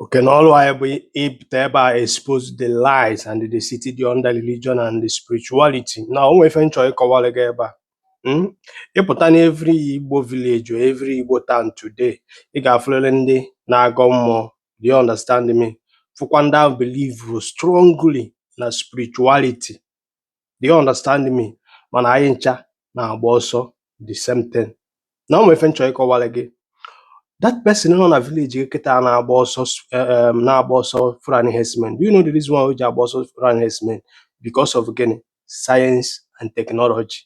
Okay, now ọrụ anyị bụ ịpụta ebe a expose the lies and deceit dị under religion and the spirituality. Now o nwee ife m chọ ịkọwara gị ebe a. Mm? Ịpụta na every Igbo village or every Igbo town today, ị ga-afụrịrị ndị na-agọ mmụọ. Do you understand me? Fụkwa ndị ahụ believe strongly na spirituality. do you understand me mana anyị ncha na-agba ọsọ the same thing now o nwe ife m chọ ịkọwara gị that person nọ na village gị kịta na-agba ọsọ eh, eh, na-agba ọsọ Fulani herdsmen do you know the reason why o ji agba ọsọ Fulani herdsmen because of gịnị science and technology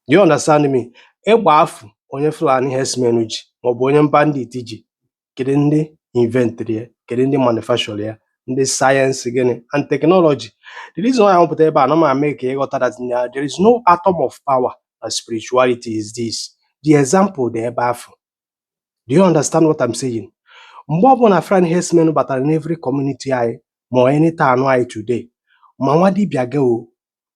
do you understand me egbe afụ onye Fulani herdsmen ji maọbụ onye bandit ji kedu ndị inventịrị ya kedu ndị manufacture ya ndị science gịnị and technology the reason why anyị pụta ebe a na-eme ka ịghọta that na there is no atom of power na spirituality is this the example dị ebe afụ do you understand what I'm saying mgbe ọbụla Fulani herdsmen batara n'every community anyị ma n'any town anyị today ma nwa dibịa gị o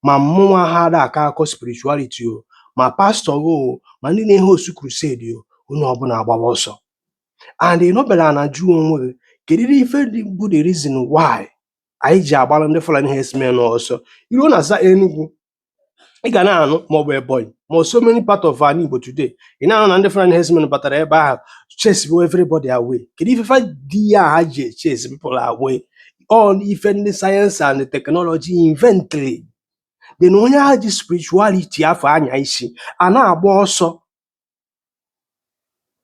ma mụnwa ha ada akọ akụkọ spirituality o ma pastor gị o ma ndị na-ehost crusade o onye ọbụla agbawa ọsọ and ị nọbere ana jụọ onwe gị kedu ife dị bụ the reason why anyị ji agbara ndị Fulani herdsmen ọsọ iruo na za Enugu ị ga na-anụ maọbụ Ebonyi ma ọ so many part of ana Igbo today ị na-anụ na ndị Fulani herdsmen batara ebe ahụ chase everybody away kedu ife fa di ya ha ji chase people away ọ ife ndị science and technology inventịrị then onye ahụ ji spirituality afụ anya isi a na-agba ọsọ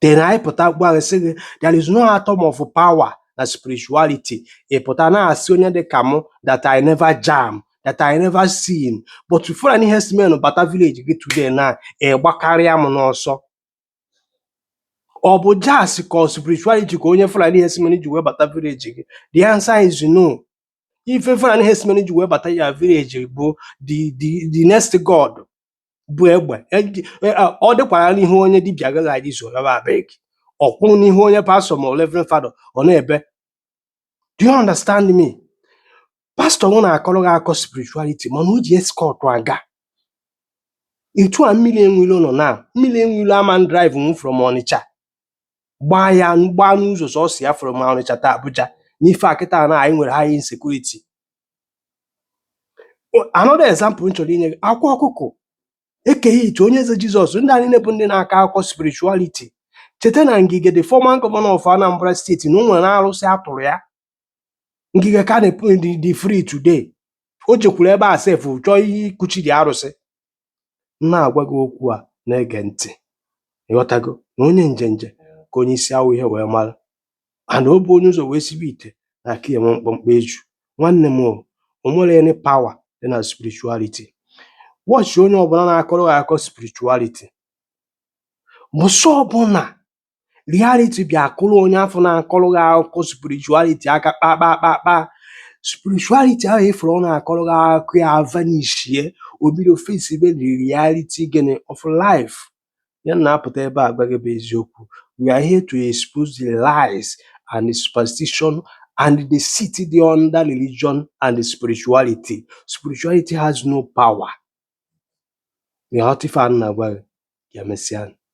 then anyị pụta gwa gị sị gị there is no atom of power na spirituality ị pụta na-asị onye dị ka mụ that I never jam that I never see but Fulani herdsmen bata village gị today na ịgbakarịa m n'ọsọ ọ bụ jazz ka ọ spirituality ka onye Fulani herdsmen ji wee bata village gị the answer is no ife Fulani herdsmen ji wee bata your village bụ the the the next god bụ egbe Eji- e- a- ọ dịkwara n'ihu onye dibịa agaghị adị izu raba abeg ọ kwụrụ n'ihu onye pastor ma reverend father ọ na-ebe do you understand me pastor nwụ na-akọrọ gị akụkọ spirituality mana o ji escort aga etu a mmiri enwilo nọ na mmiri enwilo ama drive nwu from ọnịcha gbaa ya gbaa n'ụzọ sọsọ ya from ọnịcha to abuja n'ife a kịta na anyị nwere high insecurity another example m chọrọ inye gị akwa ọkụkọ eke hit onyeze jesus ndị a nine bụ ndị na-akọ akụkọ spirituality cheta na ngige the former governor of anambra state na o nwere arụsị atụrụ ya ngige ka na-epu dị dị free today o jekwuru ebe a sef chọọ ihe ikuchi dị arụsị m na-agwa gị okwu a na-ege ntị ịghọtago na onye njenje ka onye isi awọ ihe wee mara and o bu onye ụzọ wee sibe ite na-aka ya enwe mkpọmkpọ eju nwanne m o nwere any power dị na spirituality watch onye ọbụla na-akọrọ gị akụkọ spirituality mbọsị ọbụla reality bịa akụrụ onye afụ na-akọrọ gị akụkọ spirituality aka kpakpakpakpa spirituality ahụ ị fụrụ ọ na-akọrọ gị akụkọ ya vanishie o bido face be the reality gịnị of life Ihe m na-apụta ebe a agwa gị bụ eziokwu. We are here to expose the lies and the superstition and the deceit dị under religion and the spirituality. Spirituality has no power. Ị ga-aghọta ife a m na-agwa gị, ya mesịa.